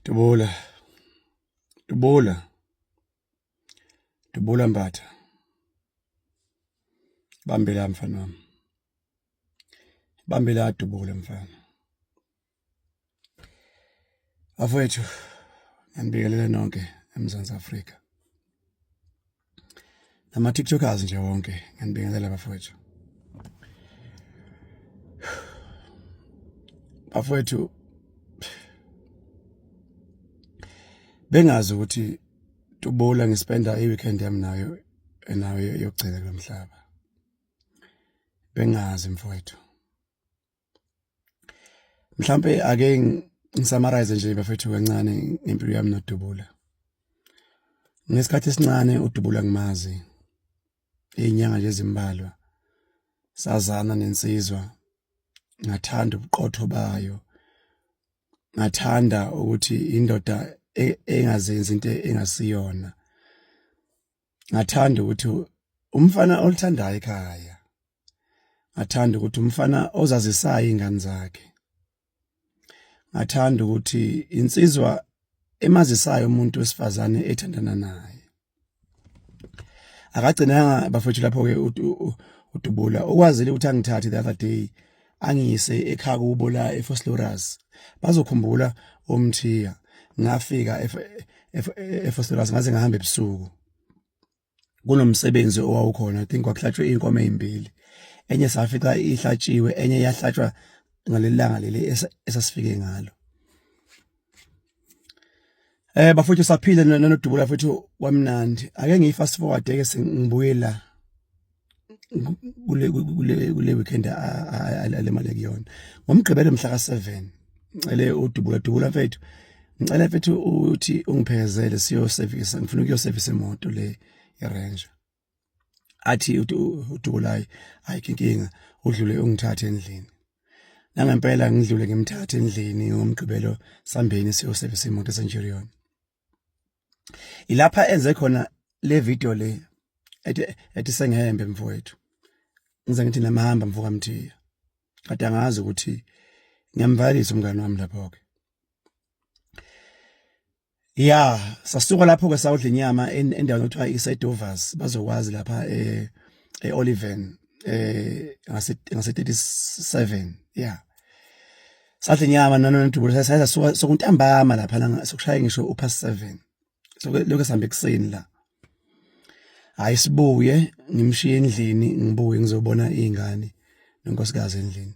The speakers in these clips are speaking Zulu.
Dubula. Dubula. Dubula Mbatha. Bambela mfana wami. Bambela adubule mfana. Afowethu, ngibingelela nonke eMzansi Afrika. nama tiktokers nje wonke nganibingelela bafowethu bafowethu bengazi ukuthi tubula ngispenda i-weekend yami nayo enayo yokugcina kulomhlaba bengazi mfowethu mhlampe ake ngisamarize nje bafethu kancane ngempilo yami nodubula ngesikhathi esincane udubula ngimazi izinyanga nje ezimbalwa sazana nensizwa ngathanda ubuqotho bayo ngathanda ukuthi indoda e, engazenzi into engasiyona ngathanda ukuthi umfana olithandayo ekhaya ngathanda ukuthi umfana ozazisayo ingane zakhe ngathanda ukuthi insizwa emazisayo umuntu wesifazane ethandana naye akagcinanga bafethu lapho ke udubula ukwazile ukuthi angithathe the other day angiyise ekhaya kubo la eFosloras bazokhumbula omthiya ngafika eFosloras ngaze ngahamba ebusuku kunomsebenzi owawukhona i think kwakuhlatshwe inkomo ezimbili enye safica ihlatshiwe enye yahlatshwa ngalelanga leli esasifike ngalo Eh bafuthu saphile nonodubula futhi wamnandi. Ake ngiyi fast forward ke sengibuye la. Kule kule kule weekend alemale kuyona. Ngomgqibelo mhla ka7. Ngicele udubula dubula mfethu. Ngicela mfethu uthi ungiphekezele siyo service. Ngifuna ukuyo service imoto le iRanger. athi udukulayi ayikho inkinga udlule ungithathe endlini nangempela ngidlule ngimthathe endlini ngomgqibelo sambeni siyosebenzisa imoto esenjirion ilapha enze khona le video le ethi ethi sengihembe mfowethu ngize ngithi namahamba mfoka mthiya kade angazi ukuthi ngiyamvalisa umngane wami lapho ke ya sasuka lapho ke sawudla inyama endaweni okuthiwa isedovers bazokwazi lapha eh eoliven eh ngase ngase 37 ya sadla inyama nanondubulo sasasuka sokuntambama lapha la sokushaya ngisho upast 7 so lokho sihambe kuseni la hayi sibuye ngimshiye endlini ngibuye ngizobona izingane nonkosikazi endlini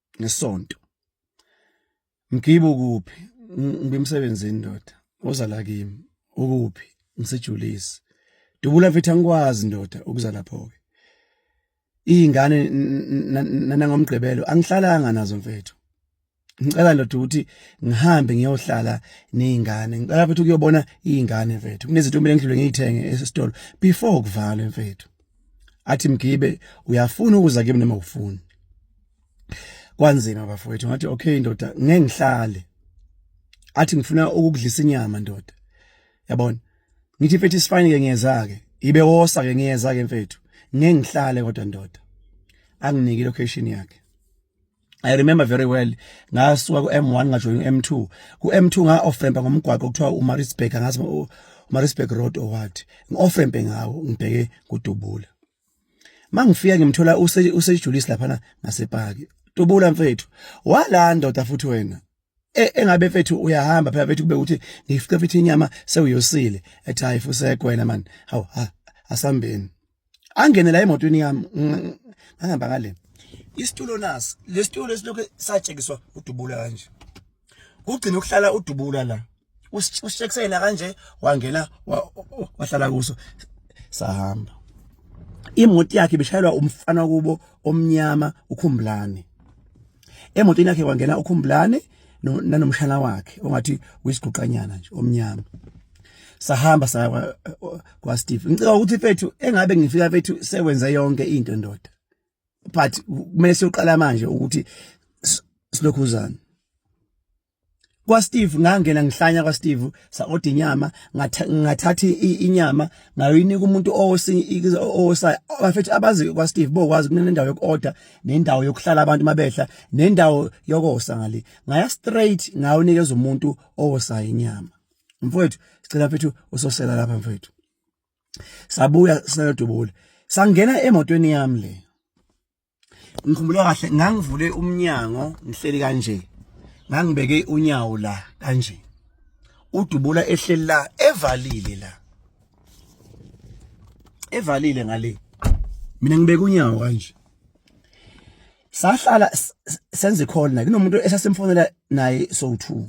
ngesonto mgibo kuphi ngibemsebenzini ndoda oza la kimi ukuphi ngisejulisi dubula mfethu angikwazi ndoda ukuza lapho ke izingane nanangomgqibelo angihlalanga nazo mfethu ngicela ndoda ukuthi ngihambe ngiyohlala nezingane ngicela futhi ukuyobona izingane mfethu kunezinto kumele ngidlule ngiyithenge esitolo before kuvalwe mfethu athi mgibe uyafuna ukuza kimi noma ufuni kwanzima bafowethu ngathi okay ndoda ngeke ngihlale athi ngifuna ukukudlisa inyama ndoda yabona ngithi mfethu isifine ke ngiyeza ke ibe wosa ke ngiyeza ke mfethu ngeke ngihlale kodwa ndoda anginike location yakhe I remember very well ngasuka ku M1 ngajoyina M2 ku M2 nga offrempa ngomgwaqo kuthiwa uMarisburg ngazi uMarisburg road or what ngioffrempe ngawo ngibheke kudubula mangifika ngimthola usejulisi lapha ngasepaki dubula mfethu walanda udafuthi wena E, engabe mfethu uyahamba phela mfethu kube ukuthi ngifice mfethu inyama sewuyosile ethi hayi fusekho wena man hawu asambeni angene la emotweni yami ngahamba ngale isitulo nasi lesitulo lesilokhu satshekiswa udubula kanje kugcina ukuhlala udubula la ushekusena kanje wangena wahlala kuso sahamba imoto yakhe bishayelwa umfana kubo omnyama ukhumbulane emotweni yakhe kwangena ukhumbulane nanomshana wakhe ongathi uyisiguqanyana nje omnyama sahamba saya kwa, kwa Steve ngicela ukuthi fethu engabe ngifika fethu sewenza yonke into ndoda but kumele siyoqala manje ukuthi silokhuzana kwaSteve ngangena ngihlanya kwaSteve sa order inyama ngathatha inyama ngayoyinika umuntu osinye osayi bafethu abazi kwaSteve bokwazi kunendawo yokuorder nendawo yokuhlala abantu mabehla nendawo yokosa ngale ngaya straight ngayonikeza umuntu osayi inyama mfowethu sicela mfethu usosela lapha mfethu sabuya sinodubula sangena emotweni yami le ngikhumbula kahle ngangivule umnyango ngihleli kanje ngangibeke unyawo la kanje udubula ehleli la evalile la evalile ngale mina ngibeke unyawo kanje sahlala senze call na kunomuntu esasemfonela naye so 2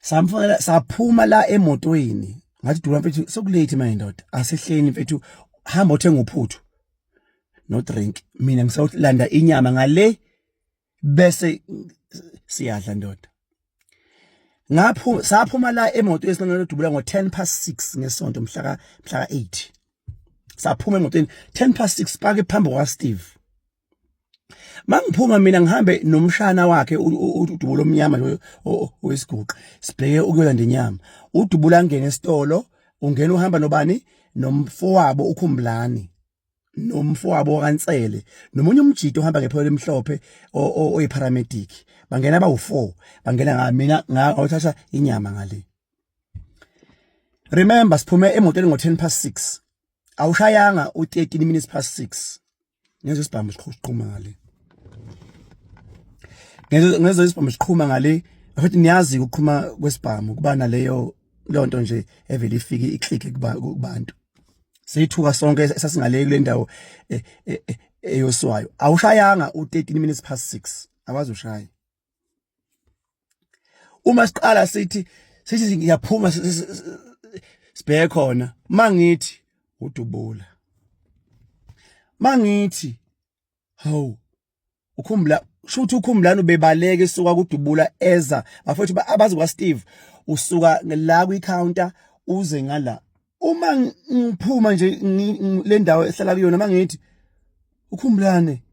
samfonela saphuma la emotweni ngathi dula mfethu sokulate manje ndoda asehleni mfethu hamba othenga uphuthu no drink mina ngisawulanda inyama ngale bese siyadla ndoda ngaphu saphuma la emoto esinqenqele dubula ngo 10 past 6 ngesonto mhla ka mhla ka 8 saphuma emotweni 10 past 6 pake phambi kwa Steve mangiphuma mina ngihambe nomshana wakhe udubulo omnyama loyo owesiguqa sibheke ukuyolanda inyama udubula angene esitolo ungena uhamba nobani nomfowabo ukhumbulani nomfowabo kaNsele nomunye umjito ohamba ngepholo emhlophe oyiparamedic bangena bawu4 bangena nga mina ngawuthatha inyama ngale remember siphume emotweni ngo10 past 6 awushayanga u13 minutes past 6 ngeze isibhamu siqhuma ngale ngeze ngeze isibhamu siqhuma ngale futhi niyazi ukuqhuma kwesibhamu kuba naleyo lonto nje evele ifike iclick kubantu sithuka sonke sasingale kule ndawo eh, eh, eh, eyoswayo awushayanga u13 minutes past 6 akwazi ushaya uma siqala sithi sithi ngiyaphuma sibheke khona mangithi udubula mangithi hawu ukhumbula shuthi ukhumbulani ubebaleke suka kudubula eza bafethu abazi kwa Steve usuka la kwi counter uze ngala uma ngiphuma nje le ndawo ehlala kuyona uma ngithi ukhumbulane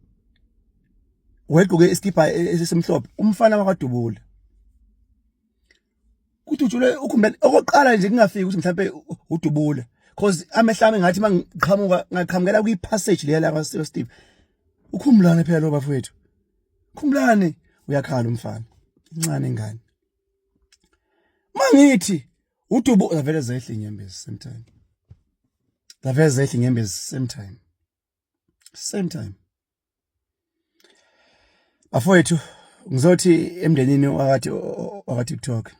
wegqoke isikibha e, e, esisemhlophe umfana wakwadubula kudutshulwe ukhumbulane okokuqala nje kungafiki ukuthi mhlawumbe udubula cause amehlami ngathi mangiqhamuka ngaqhamukela kwi passage leya la Steve ukhumbulane phela lo bafowethu khumbulane uyakhala umfana incane ingane mangithi udubo zavele zehle inyembezi same time zavele zehle inyembezi same time same time bafowethu ngizothi emndenini wakati wakati talk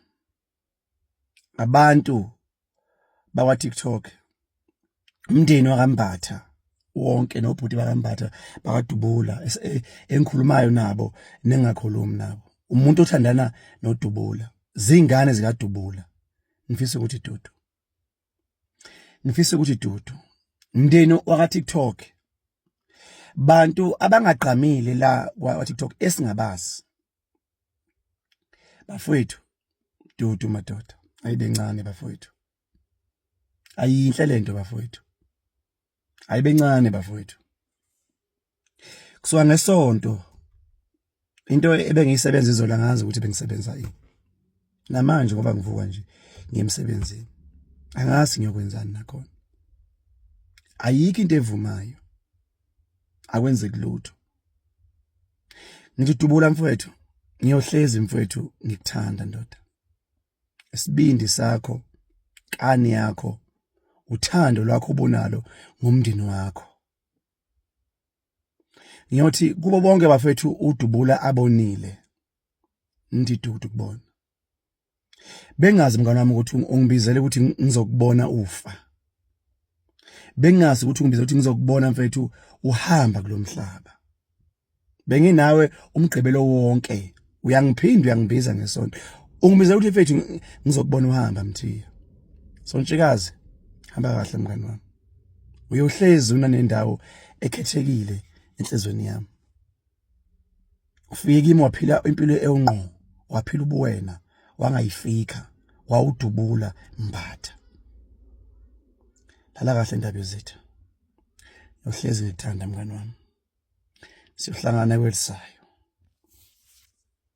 abantu bakwa TikTok umndeni wakambatha wonke nobhuti bakambatha bakadubula e, engikhulumayo nabo nengakhulumi nabo umuntu othandana nodubula zingane zikadubula ngifisa ukuthi dudu ngifisa ukuthi dudu mndeni waka TikTok bantu abangagqamile la kwa TikTok esingabazi bafowethu dudu madoda ayibe ncane bafowethu ayinhle lento bafowethu ayibe ncane bafowethu kusuka ngesonto into ebengiyisebenza izola ngazi ukuthi bengisebenza yini namanje ngoba ngivuka nje ngiyemsebenzini angazi ngiyokwenzani nakhona ayikho into evumayo akwenzeki lutho ngithi dubula mfowethu ngiyohlezi mfowethu ngikuthanda ndoda isibindi sakho kani yakho uthando lwakho obunalo ngomndeni wakho ngiyothi kubo bonke bafethu udubula abonile ndidudukubona bengazi mngane wami ukuthi ungibizele ukuthi ngizokubona ufa bengazi ukuthi ungibizele ukuthi ngizokubona mfethu uhamba kulomhlaba benginawe umgqibelo wonke uyangiphinda uyangibiza ngesonto ungibizela ukuthi mfethu ngizokubona uhamba mthiya sontshikazi hamba kahle mngane wami uyohlezi unanendawo ekhethekile enhlizweni yami ufike kimi waphila impilo ewungqo waphila ubuwena wangayifika wawudubula mbatha lala kahle ndaba yezitha uhlezi ngithanda mngani wami siyohlangana kwelisayo